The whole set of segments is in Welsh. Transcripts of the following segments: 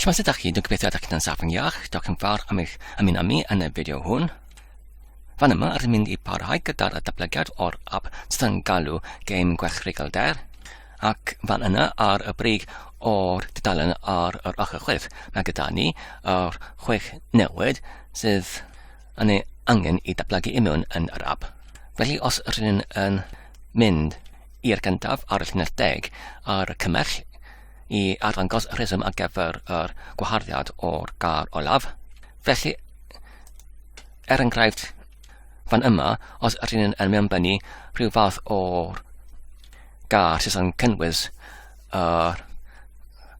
Shwmae sut ydych chi? Dwi'n gobeithio ydych chi'n saff yn iach. Diolch yn fawr am eich ymuno mi yn y fideo hwn. Fan yma, rydym mynd i parhau gyda'r datblygiad o'r app sydd yn galw Game Gwerthregal Der, ac fan yna ar y brig o'r dudalen ar yr ochr chwith, mae gyda ni yr chwech newid sydd yn ei angen i datblygu i mewn yn yr app. Felly os rydyn yn mynd i'r gyntaf ar y llinell deg ar y cymell i arddangos y rheswm ar gyfer yr gwaharddiad o'r gar olaf. Felly, er enghraifft, fan yma, os ydyn yn mewnbynnu rhyw fath o'r gar sydd yn cynnwys y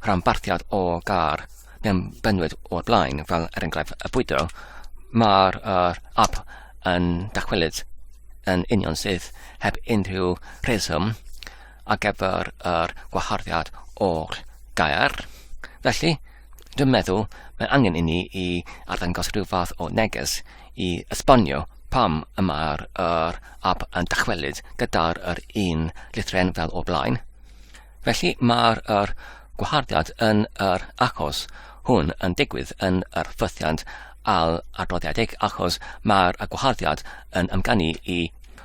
rhanbarthiad o gar mewn bynwyd o'r blaen, fel er enghraifft y bwydo, mae'r uh, app yn dachwelyd yn union sydd heb unrhyw rheswm ar gyfer yr gwaharddiad o'r gair. Felly, Dwi'n meddwl mae angen inni i arddangos rhyw fath o neges i esbonio pam y mae'r yr ab yn dychwelyd gyda'r yr un lithren fel o blaen. Felly mae'r yr gwaharddiad yn yr achos hwn yn digwydd yn yr ffythiant al adroddiedig achos mae'r gwaharddiad yn ymganu i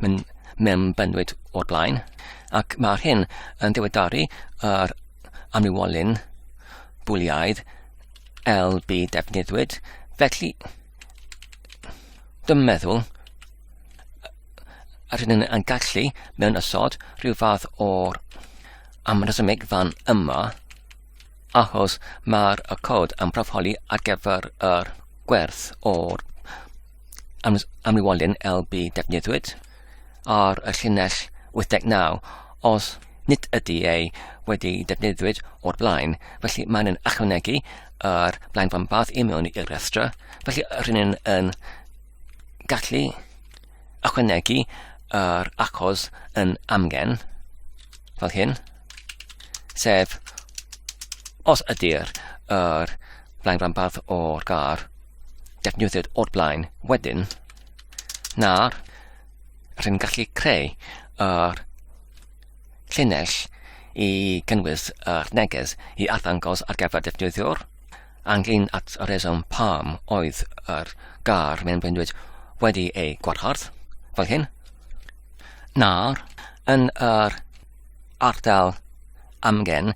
Mae'n mewn bennwyd o'r blaen, ac mae'r hyn yn diweddaru yr amlywolyn bwliaidd LB defnyddwyd, felly dwi'n meddwl yr hyn yn gallu mewn ysod rhyw fath o'r amrysymig fan yma, achos mae'r y cod yn profoli ar gyfer yr gwerth o'r am, am i walun LB defnyddiwyd ar y llinell 89 os nid ydy ei wedi defnyddiwyd o'r blaen. Felly mae'n yn ychwanegu yr blaen fan bath i mewn i'r rhestra. Felly rhywun yn, yn gallu ychwanegu yr achos yn amgen fel hyn. Sef os ydy'r er blaen fan bath o'r gar defnyddiwyd o'r blaen wedyn, na'r rhyw'n gallu creu yr llinell i gynnwys yr neges i arddangos ar gyfer defnyddiwr, anglyn at y reswm pam oedd yr gar mewn bwynwyd wedi ei gwarhardd, fel hyn, na'r yn yr ardal amgen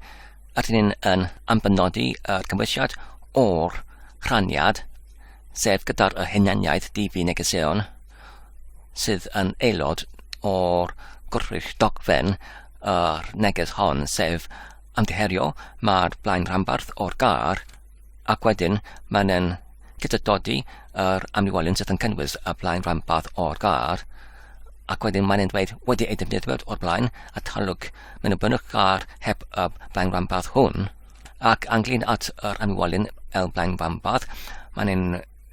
rydyn ni yn ambenodi y cymwysiad o'r rhaniad, sef gyda'r y hunaniaeth DV negeseuon sydd yn aelod o'r gwrthrych dogfen yr neges hon, sef amddiherio mae'r blaen rhanbarth o'r gar Ac wedyn mae'n en gyda dodi yr amlywolion sydd yn cynnwys y blaen rhanbarth o'r gar, ac wedyn mae'n dweud wedi ei defnyddio o'r blaen a talwg mewn y bynnwch gar heb y blaen rhanbarth hwn, ac anglyn at yr amlywolion el blaen rhanbarth, mae'n ein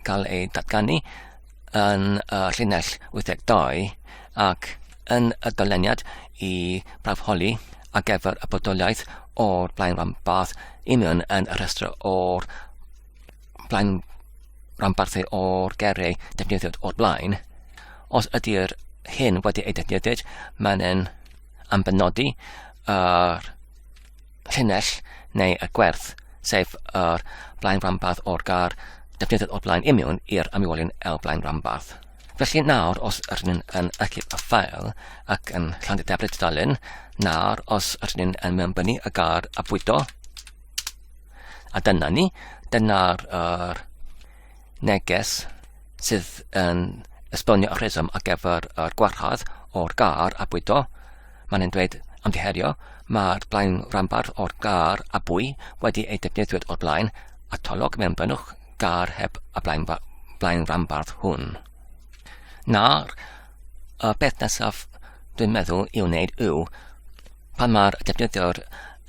cael ei datganu yn y llinell 82 ac yn y doleniad i brafholi ar gyfer y bodoliaeth o'r blaen ranbarth, union yn y rhestr o'r blaen ranbarthau o'r gerau defnyddiwyd o'r blaen. Os ydy'r hyn wedi ei defnyddio, mae'n yn ambenodi yr llinell neu y gwerth, sef yr blaen ranbarth o'r gar defnyddiwyd o'r blaen imiwn i'r amlywolion el blaen ranbarth. Felly nawr os ydyn ni'n yn archif y ffael ac yn llanddeddeblu tudalen, nawr os ydyn ni'n yn mewnbynnu y gar a bwydo, a dyna ni, dyna'r er, neges sydd yn esbonio y rheswm ar gyfer yr gwarchod o'r gar a bwydo. Mae'n yn dweud amddiherio, mae'r blaen rambarth o'r gar a bwy wedi ei defnyddio o'r blaen, a tolwg mewn bynnwch gar heb y blaenranbarth hwn. Nawr, y peth nesaf dwi'n meddwl i'w wneud yw, pan mae'r defnyddiwr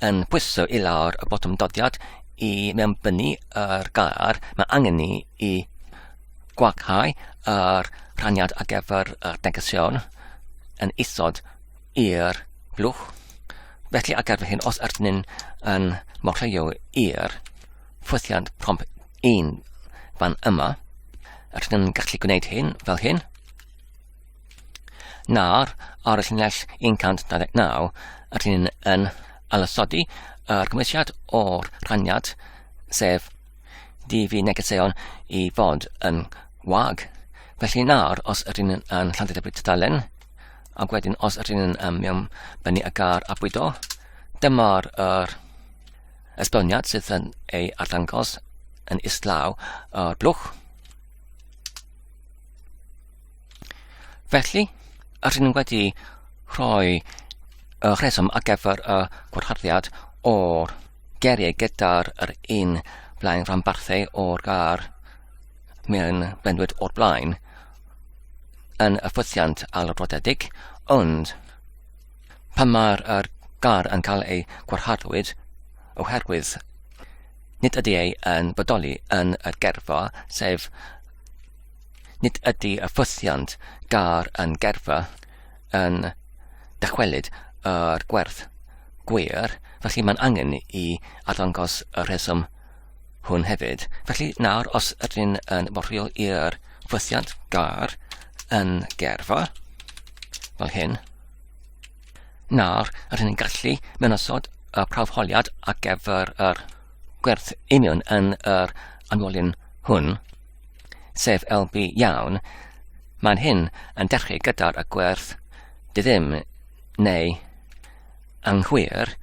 yn pwyso i lawr y botwm dodiad i mewnbynnu yr gair, mae angen ni i gwaghau yr rhaniad ar gyfer y negesion yn isod i'r blwch. Felly ar gyfer hyn, os ydyn ni'n morlleio i'r ffwythiant prompt 1 fan yma. Rydyn ni'n gallu gwneud hyn fel hyn. Nawr, ar y llinell 129, rydyn ni'n yn alysodi yr cymwysiad o'r rhaniad, sef DV negeseuon i fod yn wag. Felly nawr, os ydyn ni'n yn Llanddebyg Tudalen, ac wedyn os ydyn ni'n um, mewn bennu y gar a bwydo, dyma'r er, Estoniad sydd yn ei arddangos yn islaw o'r blwch. Felly, yr hyn wedi rhoi y rheswm ar gyfer y gwrtharddiad o'r geriau gyda'r yr un blaen rhanbarthau o'r gar mewn blendwyd o'r blaen yn y ffwythiant alrodedig, ond Pan mae'r er gar yn cael ei gwarchadwyd oherwydd nid ydy ei yn bodoli yn y gerfa, sef nid ydy y ffwythiant gar yn gerfa yn dychwelyd yr gwerth gwir, felly mae'n angen i arddangos y rheswm hwn hefyd. Felly nawr, os ydyn yn borfio i'r ffwythiant gar yn gerfa, fel hyn, Nawr, rydyn ni'n gallu mewn osod y prawf holiad ar gyfer yr gwerth union yn yr anwolyn hwn, sef LB iawn, mae'n hyn yn dechrau gyda'r y gwerth dy ddim neu anghywir,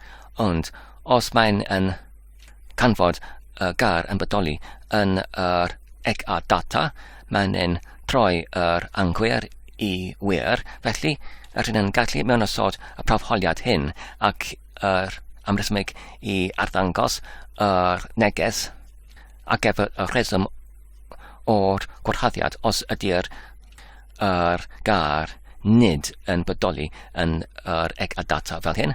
ond os mae'n yn canfod y gair yn bodoli yn yr ec a data, mae'n yn troi yr anghywir i wir, felly yr hyn yn gallu mewn osod y profholiad hyn ac yr amresymeg i arddangos yr neges a gefr y rheswm o'r gwarhaddiad os ydy'r yr gair nid yn bodoli yn yr ec a data fel hyn.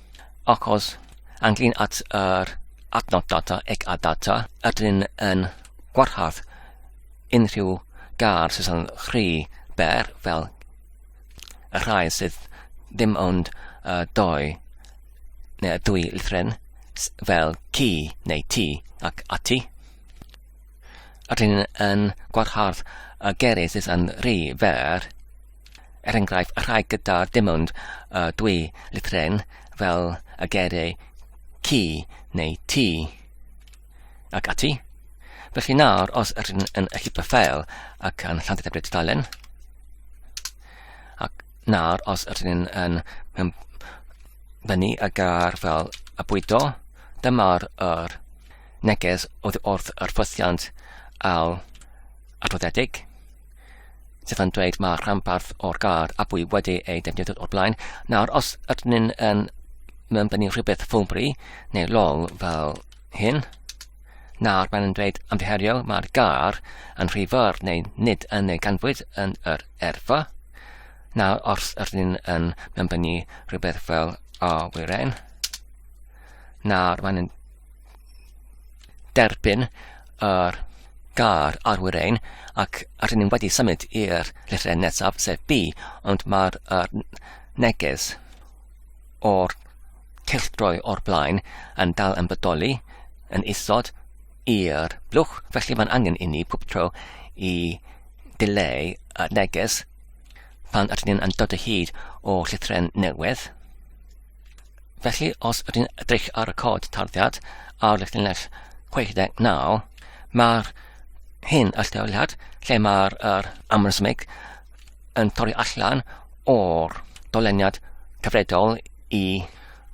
Achos, ynglŷn at yr adnodd data ac a data, ydyn yn gwarhad unrhyw gar sydd yn rhy ber fel y rhai sydd ddim ond uh, doi neu y dwy lithren fel ci neu ti ac ati. Ydyn yn gwarhad y gerydd sydd yn rhy fer er enghraifft, y rhai gyda dim ond uh, dwy litren fel y geiriau ci neu ti ac ati. Felly nawr, os ydyn yn y llipa ffeil ac yn llantydd ebred dalen, ac nawr, os ydyn yn fyny y gar fel y bwydo, dyma'r yr neges wrth yr ffosiant al adroddiedig. Stefan dweud mae rhanbarth o'r gard a bwy wedi ei defnyddio o'r blaen. Nawr, os ydyn ni'n um, mewn bennu rhywbeth ffwmbri neu lol fel hyn, nawr mae'n dweud amddiherio mae'r gar yn rhy fawr neu nid yn ei ganfwyd yn yr erfa. Nawr, os ydyn ni'n um, mewn bennu rhywbeth fel a wyren, nawr mae'n derbyn yr gair arwyr ein ac rydyn ni'n wedi symud i'r llythrau nesaf sef B ond mae'r er, neges o'r cylchdroi o'r blaen yn dal yn bodoli yn isod i'r blwch felly mae'n angen i ni pob tro i dileu y neges pan rydyn ni'n dod o hyd o llythrau newydd Felly, os ydyn edrych ar y cod tarddiad ar llinell 69, mae'r hyn allteoliad lle mae'r er amrysmig yn torri allan o'r doleniad cyfredol i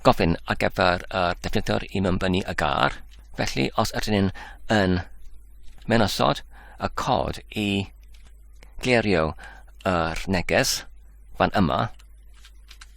gofyn ar gyfer y defnyddwr i mynbynu y gar. Felly, os ydyn ni'n yn menosod y cod i glerio yr neges fan yma,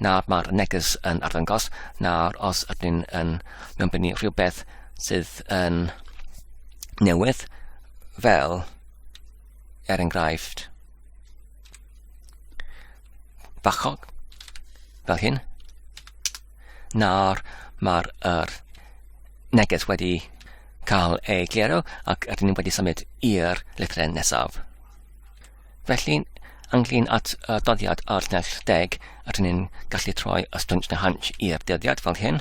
nawr mae'r neges yn arddangos, nawr os ydyn ni'n yn mewnbynnu rhywbeth sydd yn newydd, fel er enghraifft bachog, fel hyn, nawr mae'r er neges wedi cael ei glero ac ydyn ni wedi symud i'r lythrau nesaf. Felly, ynglyn at y doddiad ar nes deg, rydyn ni'n gallu troi y stwnt na hanch i'r dyddiad fel hyn.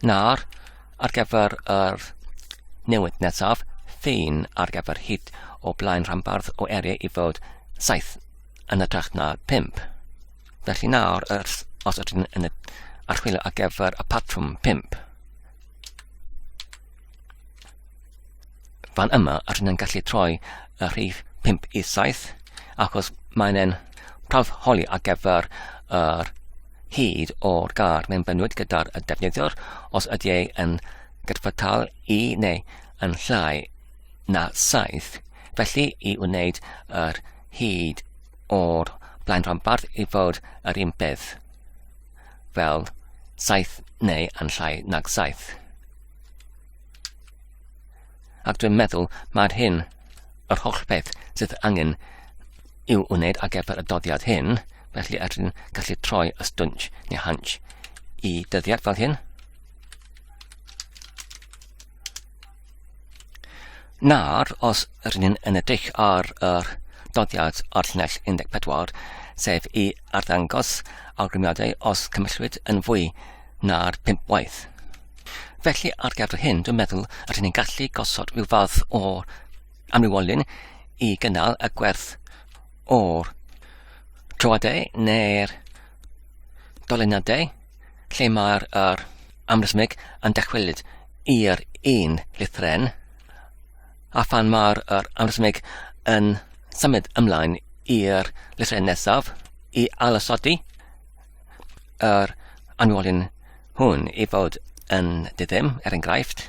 Nawr, ar gyfer yr newid nesaf, ffein ar gyfer hyd o blaen rhanbarth o eriau i fod 7 yn y trach na 5. Felly nawr, os ydyn yn y archwilio ar gyfer y patrwm 5, Fan yma, rydyn ni'n gallu troi y rhif 5 i 7, achos mae'n ein prawf holi ar gyfer yr hyd o'r gar mae'n bynwyd gyda'r defnyddiwr os ydy ei yn gydfytal i neu yn llai na 7. Felly, i wneud yr hyd o'r blaen rhanbarth i fod yr un peth. fel saith neu yn llai nag saith. Ac dwi'n meddwl mae'r hyn, yr holl beth sydd angen i'w wneud ar gyfer y doddiad hyn, felly er rydyn gallu troi y stwnch neu hanch i dyddiad fel hyn. Nawr, os yr ni'n yn edrych ar yr doddiad ar llinell 14, sef i arddangos awgrymiadau os cymellwyd yn fwy na'r pimp waith. Felly, ar gyfer hyn, dwi'n meddwl yr ni'n gallu gosod rhyw fath o amrywolyn i gynnal y gwerth o'r troadau neu'r dolyniadau lle mae'r er amrhythmig yn dychwelyd i'r un lithren, a phan mae'r er amrhythmig yn symud ymlaen i'r lithren nesaf i ailosodi yr anwolyn hwn i fod yn diddim, er enghraifft,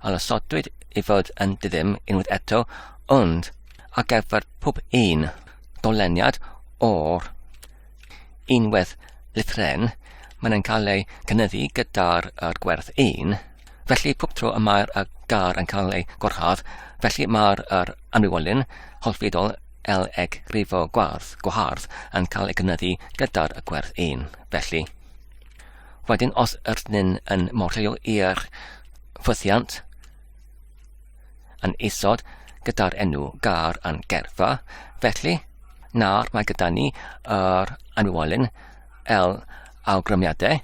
a lasodwyd i fod yn ddiddym unwaith eto, ond ar gyfer pob un doleniad o'r unwaith lithren, mae'n yn cael ei gynyddu gyda'r gwerth 1, felly pob tro y mae'r gar yn cael ei gwarchod, felly mae'r anwywolyn holfidol L eg rifo gwarth gwahardd yn cael ei gynyddu gyda'r gwerth 1, felly. Wedyn os ydyn ni'n yn modelu i'r ffwythiant yn isod gyda'r enw gar a'n gerfa, felly nawr mae gyda ni yr anwolyn L awgrymiadau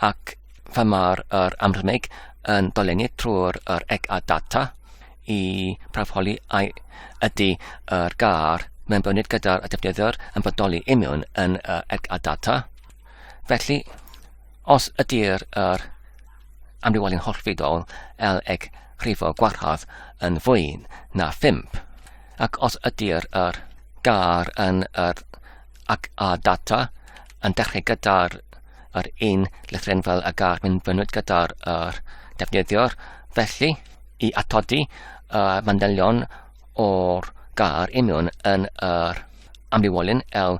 ac fe mae'r er amrymig yn dolennu trwy'r er ec a data i brafoli ai ydy yr gar mewn bynyd gyda'r defnyddwyr yn bodoli imiwn yn yr ec a data. Felly, os ydy'r yr amrywiolyn hollfidol L eg rhifo gwarhad yn fwy na 5, ac os ydy'r yr gar yn yr ac a data yn dechrau gyda'r yr un lythren fel y gar mynd fynnwyd gyda'r yr defnyddiwr, felly i atodi y manylion o'r gar imiwn yn yr amrywiolyn L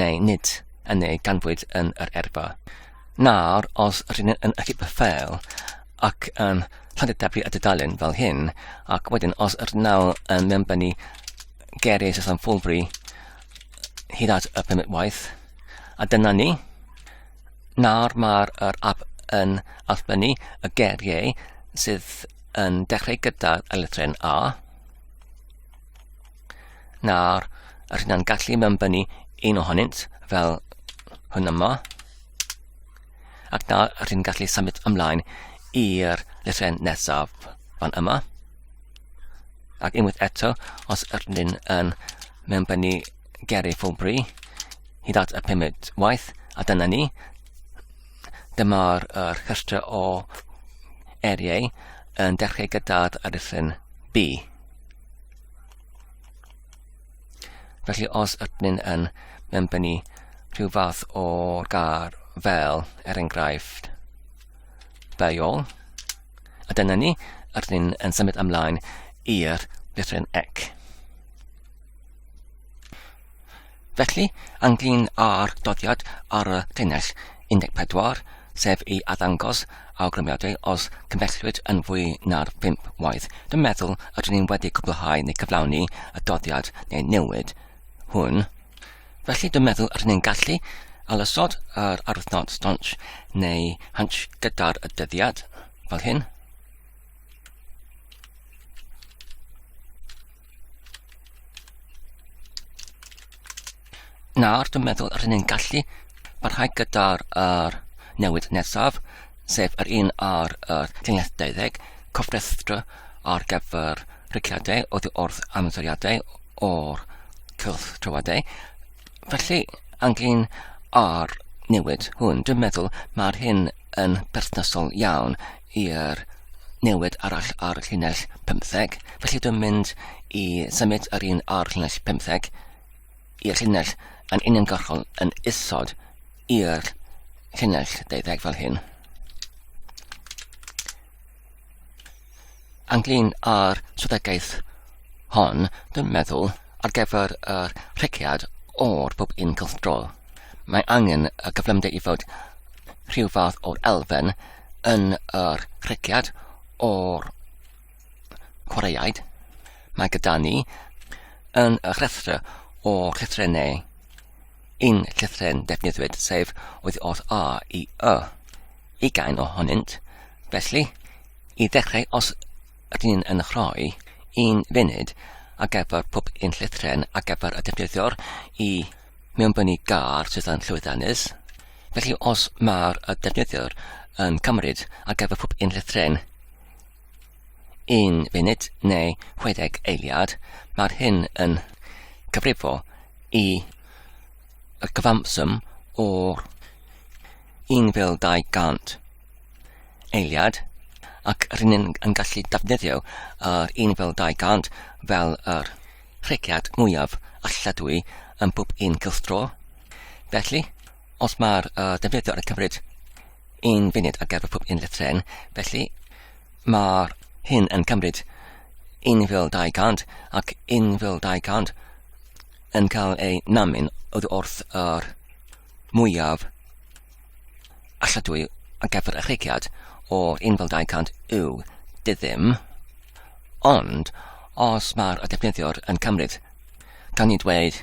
neu nid, yn ei ganfwyd yn yr erba. Nawr, os rydyn yn ychydig fel ac yn llandydabu y dudalen fel hyn, ac wedyn os rydyn nawr yn mewnbennu geiriau Saeson Fulbury hyd at y pum waith, a dyna ni. Nawr mae'r er app yn allbynnu y geiriau sydd yn dechrau gyda'r eletren A, Nawr, yr hyn na'n gallu mewnbynnu un ohonynt fel hwn yma. Ac nawr, yr hyn gallu symud ymlaen i'r llythrau nesaf fan yma. Ac unwaith eto, os yr hyn yn mewnbynnu Gary Fowlbury, hyd at y pumed waith, a dyna ni. Dyma'r er rhestr o eriau yn dechrau gyda'r aruthryn B. Felly os ydyn yn benbynnu rhyw fath o gar fel, er enghraifft, beiol, a dyna ni, ydyn yn symud ymlaen i'r lythryn ec. Felly, ynglŷn â'r dyddiad ar y llinell 14, sef i arddangos awgrymiadau os cymhellwyd yn fwy na'r pump waith, dwi'n meddwl y rydyn ni wedi cwblhau neu cyflawni y dyddiad neu newid hwn. Felly, dwi'n meddwl y rydyn ni'n gallu alysod yr arwythnod stronch neu hunch gyda'r dyddiad, fel hyn. Nawr, dwi'n meddwl rydyn ni'n gallu parhau gyda'r er, newid nesaf, sef yr un ar er, llinell 20, cofrestrau ar gyfer rhygiadau oddi wrth amsoriadau o'r cylch trywadau. Felly, ynglyn â'r newid hwn, dwi'n meddwl mae'r hyn yn berthnasol iawn i'r newid arall ar y llinell 15. Felly dwi'n mynd i symud yr un ar llinell 15 i'r llinell yn uniongyrchol yn isod i'r llinell deuddeg fel hyn. ynglyn â'r strategaeth hon, dwi'n meddwl, ar gyfer yr rhegiad o'r pob un cylchdrol. Mae angen y cyflymder i fod rhyw fath o'r elfen yn yr rhegiad o'r chwaraeaid. Mae gyda ni yn y rhestr o rhestrennau Un llythryn defnyddiwyd, sef oedd o'r A i Y. Ugain ohonynt, felly, i ddechrau os ydyn ni'n yn rhoi un funud ar gyfer pob un llythryn ar gyfer y defnyddiwr i mewnbynnu gar sydd yn llwyddiannus. Felly os mae'r y defnyddiwr yn cymryd ar gyfer pob un llythryn 1 funud neu 60 eiliad, mae'r hyn yn cyfrifo i y cyfanswm o'r 1200 eiliad ac rydyn ni'n yn gallu defnyddio yr 1200 fel yr rhegiad mwyaf alladwy yn pob un cylchdro. Felly, Os mae'r uh, defnyddiwr yn cymryd un funud ar gyfer pob unrhyw tren, felly mae'r hyn yn cymryd 1,200 ac 1,200 yn cael ei namun oddi wrth yr mwyaf alladwy ar gyfer y chreigiad o'r 1,200 yw dyddym, ond os mae'r defnyddiwr yn cymryd, gan ni dweud,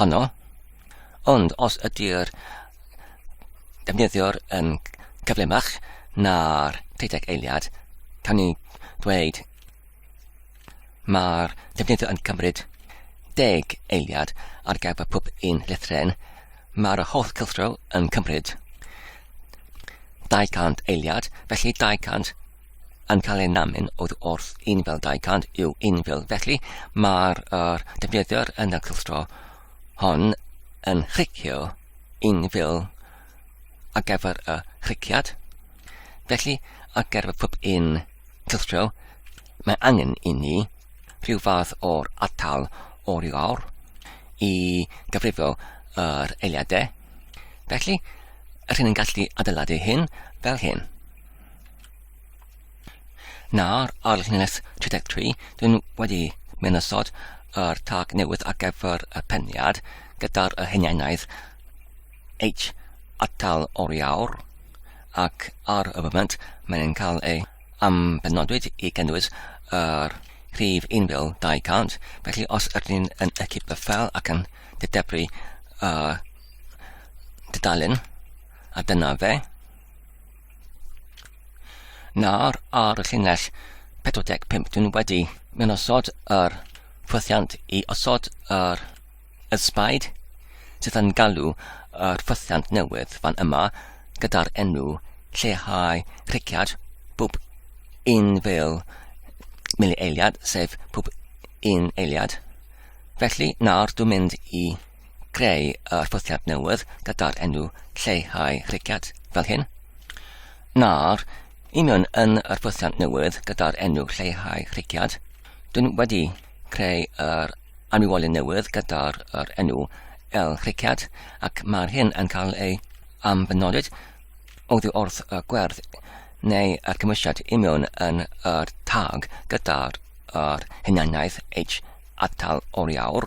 honno, ond os ydy'r defnyddiwr yn cyflymach na'r deuddeg eiliad, cawn ni ddweud mae'r defnyddiwr yn cymryd deg eiliad ar gyfer pob un llythren, mae'r holl cyllro yn cymryd 200 eiliad, felly 200 yn cael ei namu'n oedd wrth 1200 i'w 1000 felly mae'r er, defnyddiwr yn y cylchgro hon yn chricio 1000 ar gyfer y chriciad felly ar gyfer pob un cylchgro mae angen i ni rhyw fath o'r atal o'r i lawr i gyfrifo yr eiliadau felly yr hyn yn gallu adeiladu hyn fel hyn Nawr, ar llinell 33, dwi'n wedi mynd ystod yr tag newydd ar gyfer y peniad gyda'r y hunianaidd H atal oriawr ac ar y foment mae'n cael ei am benodwyd i gynnwys yr rhif 1200 felly os ydyn ni'n yn equip y fel ac yn dydebru uh, dydalen a dyna fe Nawr ar y llinell 45 dwi'n wedi mynd osod yr ffwythiant i osod yr ysbaid sydd yn galw yr ffwythiant newydd fan yma gyda'r enw lleihau rhiciad bwb un fel mili eiliad sef bwb un eiliad. Felly nawr dwi'n mynd i creu arpwthiad newydd gyda'r enw Lleihau Rhigiad, fel hyn, na'r union yn arpwthiad newydd gyda'r enw Lleihau Rhigiad. Dwi'n wedi creu yr anwywolyn newydd gyda'r yr enw El Rhigiad ac mae'r hyn yn cael ei ambenolid oddi wrth y gwerth neu y cymwysiad i mewn yn yr tag gyda'r yr hunaniaeth H atal oriawr.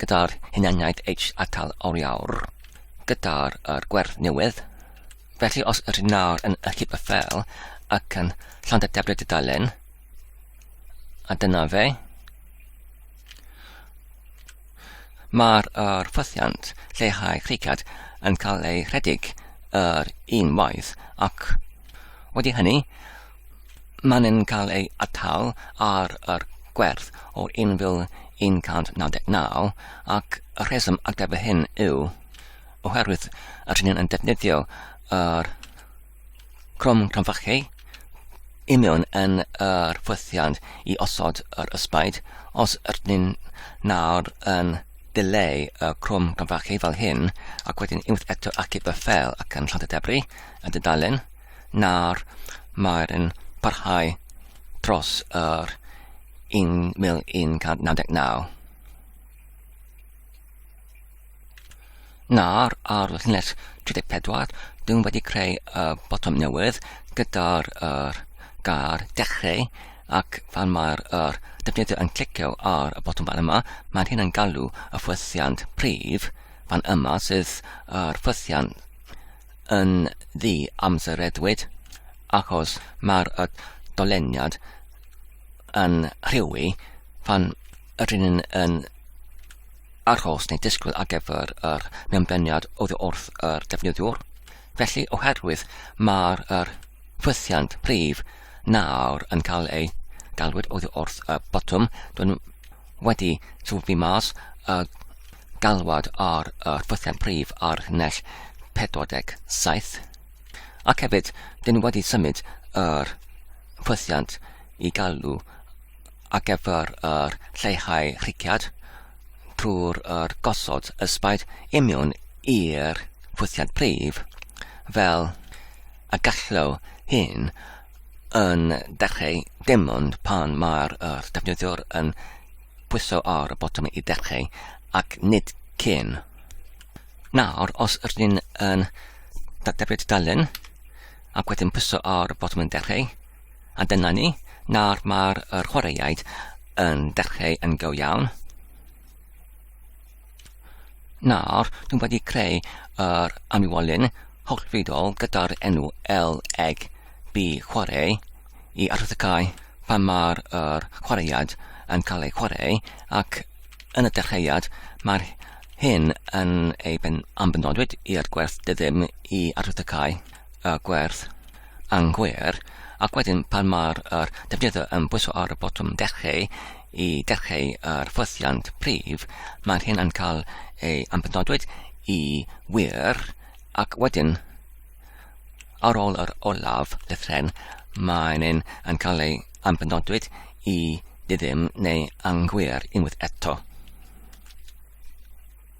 gyda'r hunaniaid H atal oriawr gyda'r er gwerth newydd. Felly os yr hyn nawr yn ychyb y fel ac yn llawn y debryd y dalen, a dyna fe, mae'r er ffythiant lleihau creigiad yn cael ei rhedeg yr un waith ac wedi hynny, Maen nhw'n cael eu atal ar yr gwerth o 1,199 ac y rheswm ar gyfer hyn yw oherwydd yr hyn yn defnyddio yr crwm cronfachu i mewn yn yr ffwythiant i osod yr ysbaid. Os ydyn ni'n nawr yn dileu y crwm cronfachu fel hyn ac wedyn unwaith eto acib y ffel ac yn llond y debri yn dydalen, nawr mae'r yn parhau dros yr 1199. Nawr ar llinell 34, dwi'n wedi creu y botwm newydd gyda'r er, gair dechrau ac pan mae'r er, defnyddio yn clicio ar y botwm fan yma, mae'n hyn yn galw y ffwythiant prif fan yma sydd yr ffwythiant yn ddi-amsereddwyd achos mae'r y doleniad yn rhywi pan ydyn ni'n yn arhos neu disgwyl ar gyfer yr mewnbeniad oddi wrth yr defnyddiwr. Felly, oherwydd mae'r yr ffwythiant prif nawr yn cael ei galwyd oddi wrth y botwm, dwi'n wedi sylwi mas y galwad ar y rhwythiant prif ar nell 47, ac hefyd dyn ni wedi symud yr rhwythiant i galw ar gyfer yr lleihau rhigiad trwy'r er gosod ysbaid imiwn i'r rhwythiant prif fel a gallew hyn yn dechreu dim ond pan mae'r er defnyddiwr yn Pwyso ar y botwm i ddechrau, ac nid cyn. Nawr, os rydyn yn datblygu tudalen, ac wedyn pwyso ar y botwm yn dechrau, a dyna ni, nawr mae'r chwaraeaid yn dechrau yn go iawn. Nawr, dwi wedi creu yr aniwolyn hollfidol gyda'r enw LEG bu chwarae i arwyddocau pan mae'r er chwaraead yn cael ei chwarae ac yn y dechreuad mae'r hyn yn ei ben ambenodwyd i'r gwerth dyddym i arwyddocau y gwerth anghywir ac wedyn pan mae'r er defnyddio yn bwyso ar y botwm dechreu I dechrau yr ffwythiant prif, mae'r hyn yn cael ei ampenodwyd i wir ac wedyn ar ôl yr olaf lythren mae'n un yn cael ei ampenodwyd i ddim neu anghywir unwaith eto.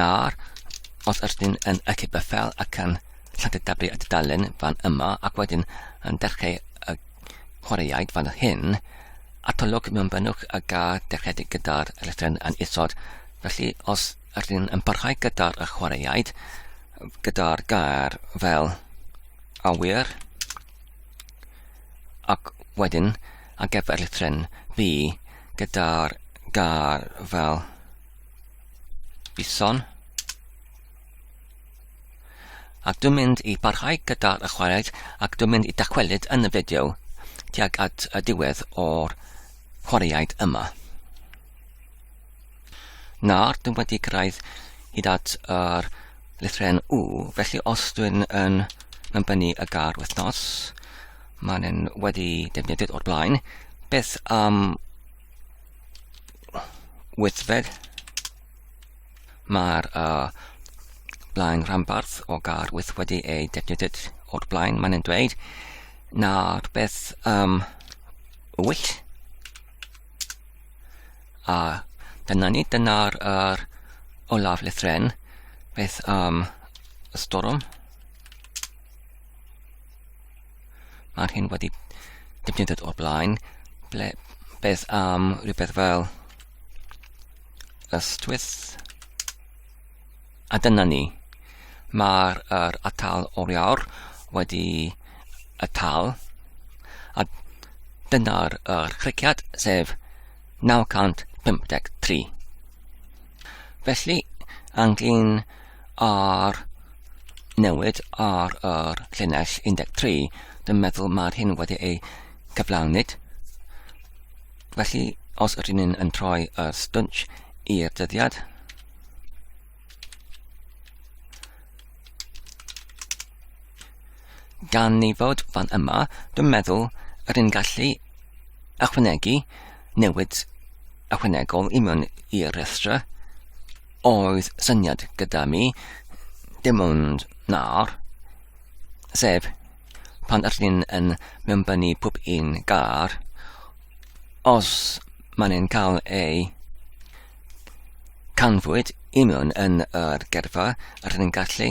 Nawr, os ydych chi'n yn y cipper fel ac yn llantydabu y dudalen fan yma ac wedyn yn dechrau y chwaraeaid fan hyn, atolwg mewn benwch y ga dechreuedig gyda'r electron yn isod. Felly, os ydych chi'n yn parhau gyda'r y chwaraeaid, gyda'r gair fel awyr, ac wedyn ar gyfer lithren fi, gyda'r gar fel bison. Ac dwi'n mynd i barhau gyda'r ychwaneg ac dwi'n mynd i dacwelyd yn y fideo tuag at y diwedd o'r chwaraeaid yma. Nawr, dwi'n wedi cyrraedd hyd at yr lythren U, felly os dwi'n yn mynbynnu y gar wythnos, Mae'n yn wedi defnyddiad o'r blaen. Beth am wythfed? Mae'r uh, blaen rhanbarth o gar wyth wedi ei defnyddiad o'r blaen. Mae'n yn dweud nawr beth am wyll? A dyna ni, dyna'r er, olaf lythren. Beth am y storm? Mae'r hyn wedi defnyddiad o'r blaen, ble beth am rhywbeth fel ystwyth. A dyna ni. Mae'r er atal oriawr wedi atal. A dyna'r er criciad, sef 953. Felly, anglyn Ar newid ar yr llinell 13, dwi'n meddwl mae'r hyn wedi ei cyflawnyd. Felly, os ydyn ni'n yn troi y stwnch i'r dyddiad, gan ni fod fan yma, dwi'n meddwl rydyn gallu ychwanegu newid ychwanegol i mewn i'r rhestr oedd syniad gyda mi, dim ond nawr, sef pan ydych chi'n yn mewnbynnu pob un gar, os maen nhw'n cael eu canfwyd i mewn yn yr gerfa, ydych chi'n gallu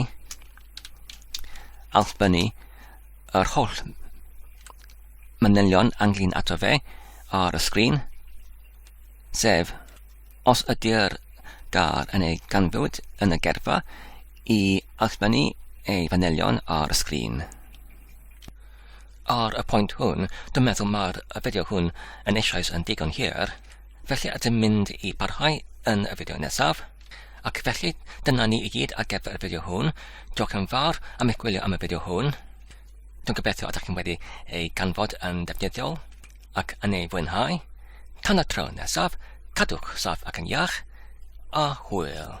allbynnu yr holl manylion anglyn ato fe ar y sgrin, sef Os ydy'r gair yn ei ganfod yn y gerfa, i allfynnu ei fanylion ar y sgrin. Ar y pwynt hwn, dwi'n meddwl mae'r fideo hwn yn eisoes yn digon hir, felly ydym mynd i barhau yn y fideo nesaf. Ac felly, dyna ni i gyd ar gyfer y fideo hwn. Diolch yn fawr am eich gwylio am y fideo hwn. Dwi'n gobeithio ydych chi'n wedi ei ganfod yn ddefnyddiol. ac yn ei fwynhau, tan y tro nesaf, cadwch saff ac yn iach, a hwyl!